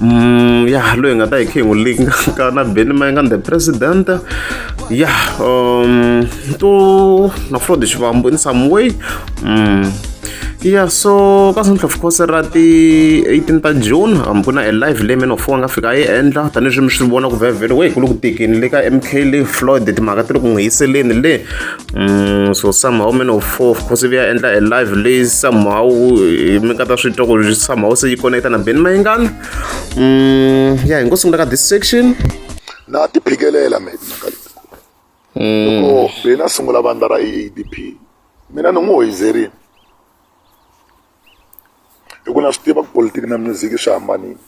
Mm, ya loyi hi nga ta hi khe hi n'wi linka na benny mayengani the president ya um to na frode xivambo in some way mm. ya so ka sontlha of course ra ti 18 ta june um, ku na a live leyi mene ofuwa nga fika a yi endla tanihileswi mi swi vona ku vhevhele we ku le ku tikeni le ka mk le floyd timhaka ti ri ku n'wi yiseleni le Mm, so somehow man of four of course vuya endla a live leyi somehow eh, mi nga ta swi twa ku somehow se yi connecta na beni mayingana mm, ya hi ngo sungula ka this section na ti phikelela mina mm. loko beni a sungula vandla ra aadp mina ni n'wi hoyizerini hi ku na swi tiva ku politiki na music swi hambanile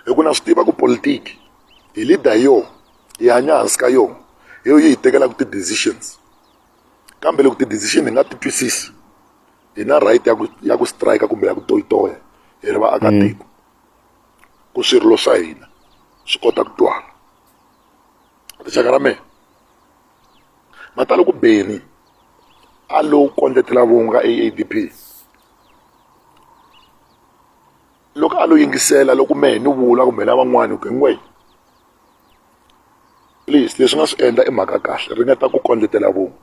hi ku na swi tiva ku politiki hi leader hi yona hi hanya hansi ka yona hi yo yi hi tekelaka ti-decisions kambe loko ti-decision hi nga ti twisisi hi na right ya ku ya ku strike kumbe ya ku toyitoya hi ri vaakatiko mm. ku swirilo swa hina swi kota ku twala rixaka ra mehe matalo ku beni a lo kondletela vongo ka aadp loko a lo yingisela loko mehe ni vula kumbe lavan'wani ku ngweyi please leswi nga swi endla i mhaka kahle ri nga ta ku kondletela vongo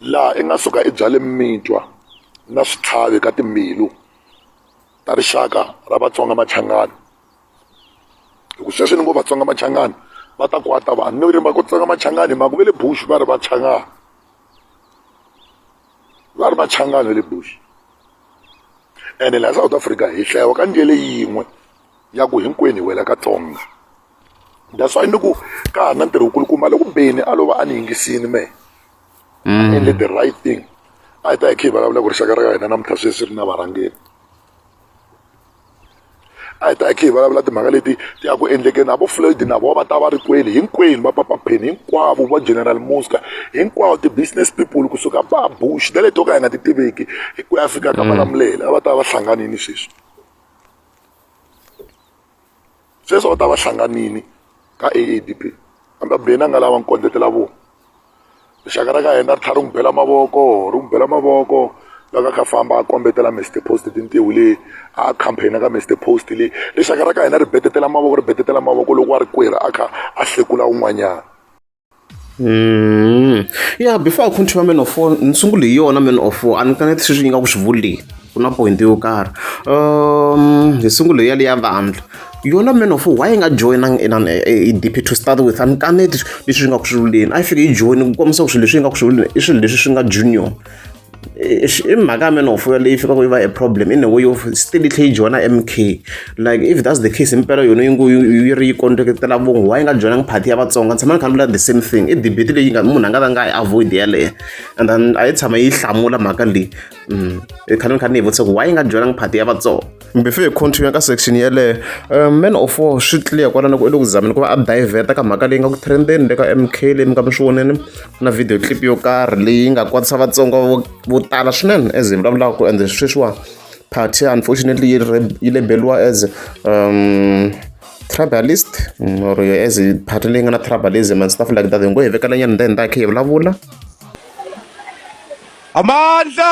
laha i nga suka i byale mitwa na switlhavi ka timbilu ta rixaka ra vatsonga machangani hi ku sweswi ni ngo vatsonga machangani va ta kwata vanhu ni ri ma ku tsonga machangani hi mhaka ku ve le bush va ri vachangani va ri vachangani va le bush ene laha south africa hi hlayiwa ka ndlela yin'we ya ku hinkwenu hi wela ka tsonga that's why ni ku ka ha na ntirho wukulukumba loko beni a lova a ni yingisini mehe mm. endle the right thing a hi ta hi khe hi vulavula ku rixaka ra ka hina namuntlha sweswi ri na varhangeri a hi ta hi khe hi vulavula timhaka leti ti ya ku endlekeni na vo floyd na vona va ta va ri kweli hinkwenu va papa pheni hinkwavo va general muska hinkwavo ti-business people kusuka va bush na leti o ka hi nga ti tiveki hi ku ya fika ka mm. malamulele a va ta va hlanganini sweswi sweswi va ta va hlanganini ka aadp kambe bena nga lava nkondletela vona rixaka ra ka hina tlha ri n'wi bela mavoko ri n'wi bela mavoko loko a kha famba a kombetela mr post tintiho leyi a campaign ka mr post leyi rixaka ra ka hina ri betetela mavoko ri betetela mavoko loko wa ri kwera a kha a hlekula un'wanyana Mm. Yeah, before I continue man of war, ni sungule hi yona man of war. A ni kaneti sweswi nyinga ku swi vuleni. Ku na point yo karhi. Um, hi sungule yale ya vandla. Yona man of war, why yi nga joinang in an DP to start with? A ni kaneti leswi swi nga ku swi vuleni. A yi fike yi join ku kombisa ku swilo leswi yi nga ku swi vuleni i swilo leswi swi nga junior. i mhaka ya minofu yaleyo yi fikaka yi va a problem in a way of still yi tlhe yi joyina mk like if that's the case impela yona yi ngo yi ri yi kondeketela vungu wa yi nga joyinangi party ya vatsonga tshama ni kha ni vula the same thing i debate leyi nga munhu a nga ta nga yi avoid yaleyo and then a yi tshama yi hlamula mhaka leyi um kha ni kha ni yi vutisa ku wa yi nga joyinangi party ya vatsonga before hi continue ka section yeleyo um, man of war swi clear kwalana ku i le ku zameni ku va a divert ka mhaka leyi nga ku trendeni le ka mk leyi mi nga mi swi voneni ku na video clip yo karhi leyi nga kwatisa vatsongo vo tala swinene as hi vulavulaka ku ende sweswiwa party unfortunately yi lebeliwa as um tribalist mm, or as party leyi nga na tribalism and stuff like that hi ngo hi vekelanyana ndende akhe hi vulavula amandla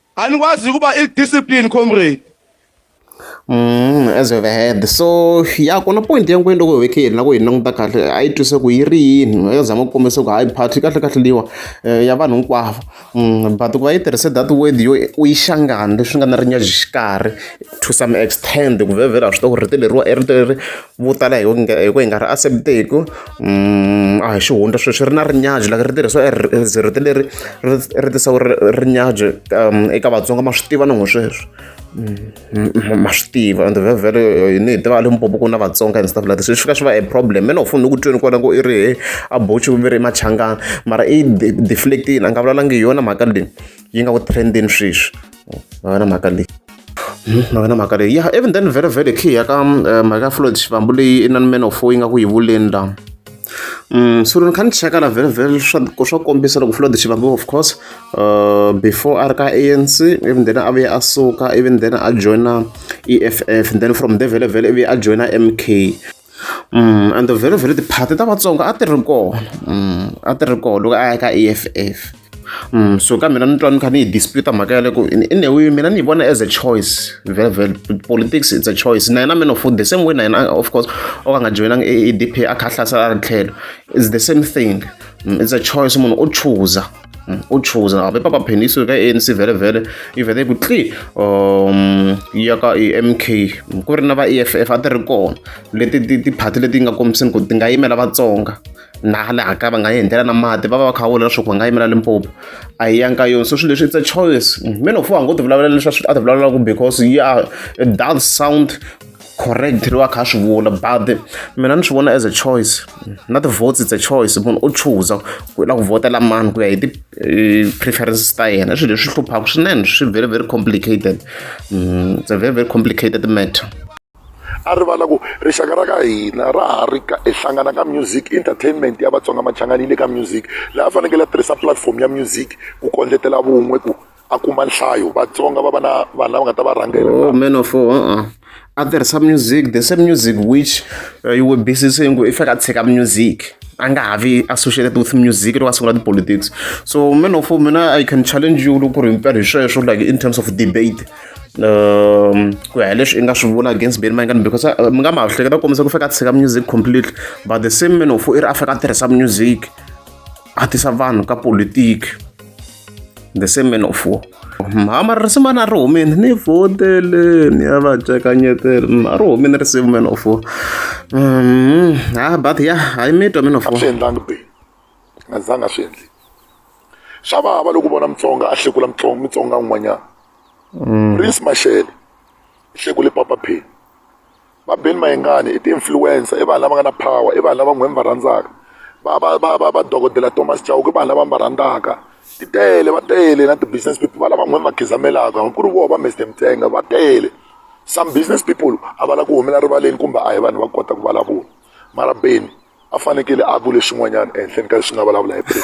Anikwazi ukuba i discipline comrade. Mm, as we've heard so ya kona point ya nkwini loko hi veke yini na ku hi languta kahle a yi twise ku yi ri yini ya zama ku kombisa ku hayi phatri kahle kahle liwa eh, ya vanhu hinkwavo mm, but ku va yi tirhise that word yo u yi xangani leswi nga na rinywaji xikarhi to some extend ku vhevhela swi ta ku rito leriwa i rito leri vo tala hi ku hi nga ri accepteku a hi xihundla sweswi ri na ri nyadzo like ri tirhisiwa rito leri ri tisa ku ri ri nyadzo eka vatsonga ma swi tiva nongo sweswi ma swi tiva and vhe vhele ni hi tiva limpopo ku na vatsonga and stuff like this swi fika swi va a problem mena u funi ku tweni kwala ku i ri he a bochi vumbe ri i machangana mara i deflectini a nga vulalangi hi yona mhaka leyi yi nga ku trendini sweswi oh, va va na mhaka leyi Hmm, mhaka na mhaka leyi ya even then vhele vhele key ya ka eh, mhaka ya floyd xivambu leyi inani man of four yi nga ku yi vuleni la Mm, so ni kha ni cheka la vhele vhele swa swa kombisa loko floyd xivambu of course uh, before a ri ka anc even then a vuye a suka even then a joina eff then from there vhele vhele ivi a joina mk and very very tiphati ta vatsongo a ti ri kona a ti ri kona loko a ya ka e f f Mm, so ka mina ni twa ni kha ni yi dispute mhaka yale ku in a way mina ni yi vona as a choice very very politics it's a choice na yena man of the same way na yena of course o ka nga joinanga e d p a kha a hlasela a ri tlhelo it's the same thing mm, it's a choice munhu o chuza hmm, u chuza nabo ipapa phendisiwe ka anc vele vele yi vele yi ku tli um yi ya ka i m k ku ri na va e f f a ti ri kona leti tiphati leti nga kombisini ku ti nga yimela vatsonga na laha kaya va nga yi hindlela na mati va va va kha va vula leswaku va nga yimela limpopo a yi yanka yona so swilo leswi it's a choice mina u fo hangi u ti vulavulela leswi a ti vulavulaka because ya it does sound correct loyi a kha a swi vula but mina ni swi vona as a choice na ti-votes it's a choice munhu u chuza ku la ku votela mani ku ya hi ti-preferences ta yena i swilo leswi hluphaka swinene swi very very complicated mm, it's a very very complicated matter a rivala ku rixaka ra ka hina ra ha ri i hlangana ka music entertainment ya vatsonga machangani yi le ka music laha a fanekele a tirhisa platform ya music ku kondletela vun'we ku a kuma nhlayo vatsonga va va na vanhu lava nga ta va rhangela oh, man of all, uh -uh. a tirhisa music the same music which uh, you were busy saying i fake a tshika music a nga ha vi associated with music loko a sungula ti-politics so man of all, mina i can challenge you loko ku ri mpela hi sweswo like in terms of debate um ku ya hi leswi i nga swi vula against beni mayingani because uh, mi nga ma hleketa kombisa ku fika a tshika music completely but the same man of i ri a fika a tirhisa music a tisa vanhu ka politiki the same man of war mhama risimu na ri humini ni voteleni ya va cekanyeteri a ri humini risimu man of war mm-hmm. ha ah, but ya hayi mitwa man of war swi endlangi be a zanga swi endli swa vava loko vona mutsonga a hlekula mutsonga mutsonga un'wanyana mm. prince mashele hlekule papa pheni va beni mayengani i ti-influencer i vanhu lava nga na power i vanhu lava n'wini va rhandzaka va va va va va dokodela thomas chauke i vanhu lava mi va rhandzaka ti tele va tele na ti-business people va lava n'wini va khizamelaka ku ri voho va mr mtsenga va tele some business people a va lava ku humela rivaleni kumbe a hi vanhu va kota ku vulavula mara beni a fanekele a vule swin'wanyana ehenhleni ka leswi nga vulavula hi beni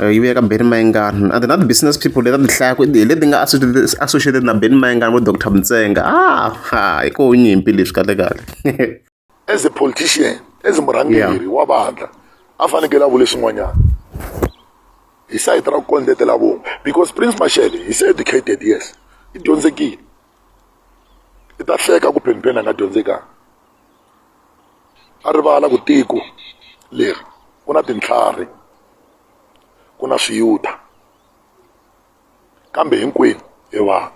Eh, yi vuya ka ben mayengani and another business people leta tihlayaku hi leti nga associated na ben mayengani vo dr mtsenga ah ha hi ko nyimpi leswi kahle kahle as a politician as murhangeri wa vandla a fanekele a vule swin'wanyana hi sayiti ra ku kondletela vona because prince mashele hi se educated yes i dyondzekile i ta hleka ku phenpheni a nga dyondzekanga a rivala ku tiko leri ku na tintlhari ku na swiyuda kambe hinkwenu hi vanhu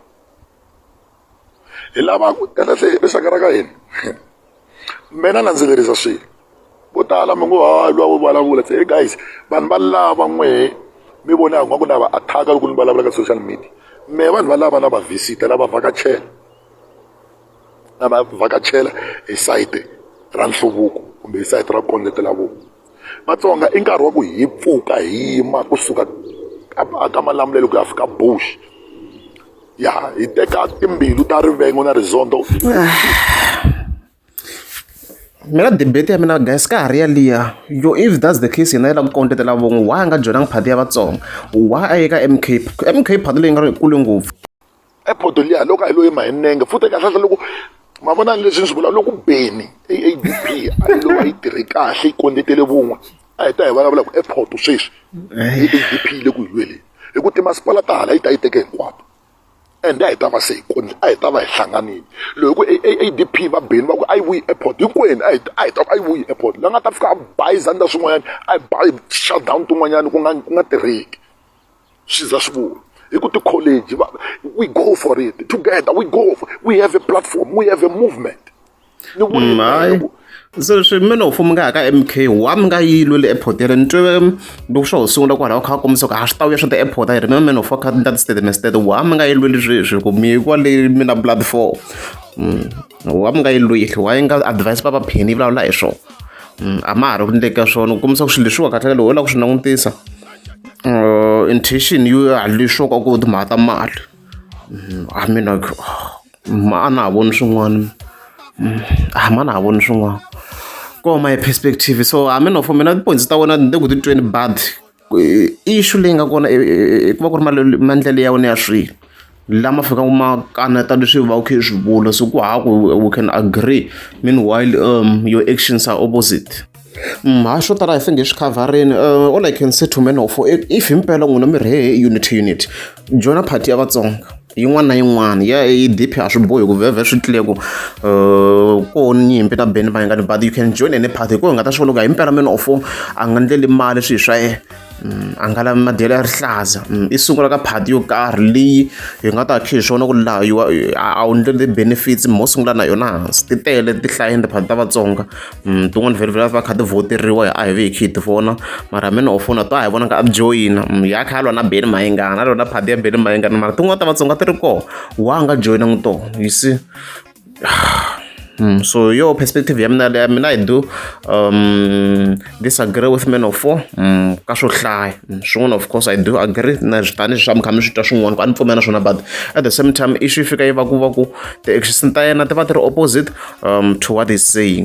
hi lava ku endla hle rixaka ra ka hina me na landzelerisa swilo vo tala mi ngo ha lwa vo vulavula se hey guys vanhu va lava n'wehe mi vona hi nga ku na va athaka loko ni vulavula ka social media me vanhu va lava na vavhesita lava vhakachela na va vhakachela hi sayiti ra nhluvuko kumbe hi sayiti ra ku kondletela vona vatsonga i nkarhi wa ku hi pfuka hi yima kusuka ka malamulelo ku ya fika bush ya hi teka timbilu ta rivengo na rizondo mina debate ya mina guys ka ha ri yaliya yo if that's the case yena yi lava ku kondletela vongo why a nga joinanga phati ya vatsonga why a ye ka mk mk phati leyi nga ri kule ngopfu airport liya hi loko a hi lo yima hi nenge futhi kahlahla loko ma vona ni leswi ni swi vula loko beni aadp a yi loko a yi tirhe kahle yi kondletele vun'we a hi ta hi vulavula ku airport sweswi aadp yi le ku yiweleni hi ku timasipala ta hala yi ta yi teke hinkwato ende a hi ta va se hi kondle a hi ta va hi hlanganile loyi ku aadp va beni va ku a yi vuyi airport hinkwenu a hi a hi ta a yi vuyi airport la nga ta fika a bayiza ni ta swin'wanyana a yi bayi shutdown tin'wanyana ku nga ku nga tirheki swi za swi vula hi ku tikholeji we go for it together we go for, we have a platform we have a movement ni ku mm, so swi mina u fuma nga ha ka mk wa mi nga yi lweli airport yere ni twe um, loko swa wu sungula ku halawa kha wa kombisa ku ha swi ta vuya swa ti-airport yere mina mina u fa kha that statement state wa mi nga yi lweli sweswi ku mi kwa le mina blood four mm, wa mi nga yi lweli wa yi nga advise va va pheni yi vulavula hi swona mm, a ma ha ri ku ndleka swona u kombisa ku swilo leswiwa kahleka lowu u lava ku swi langutisa intention yo ya leswaku a ku timhaka ta mali a mina ma a na ha voni swin'wana a ma na ha voni swin'wana ko my perspective so a mina for mina tipoints ta wena ni le ku titweni bad issue leyi nga kona ku va ku ri mali maendlelo ya wena ya swilo. lama fikaka ma kaneta leswi va kha yi swi vula so ku haku we can agree meanwhile um your actions are opposite mm, ha swo tala hi fange swi khavharini uh, all i can say to man ofo if himpela n'wina mi rhe unity unity jona party ya vatsonga yin'wana na yin'wana ya yi diphi a swi bohi ku vhevhe swi tlile ku uh, ko nyimpi ta beni va yi nga ni but you can join any party ko hi nga ta swi vula ku himpela man ofo a nga ndleli mali swihi swa yena a nga lavi madyelo ya rihlaza i sungula ka phati yo karhi leyi hi nga ta khe hi swona ku laha yiwa a wu ndleli ti-benefits mo sungula na yona hansi ti tele tihlayende phati ta vatsonga tin'wana vhelivhela va kha ti voteriwa hi a hi ve hi khe hi ti vona mara mina u fona to a hi vona nga a joyina ya kha lwa na beli mayingana lona phati ya beli mayingana mara tin'wana ta vatsonga ti ri koho wa nga joyina n'wi tona you see Mm, so your perspective ya mina leya mina i do um, disagree with man of four mm, ka swo hlaya mm, swin'wana of course i do agree na tanihi swa mikha mi swi twa swin'wana ku a ni pfumela swona but at the same time issue yi fika yi va ku va ku ti-actions ta yena ti va ti ri opposite um, to what is saying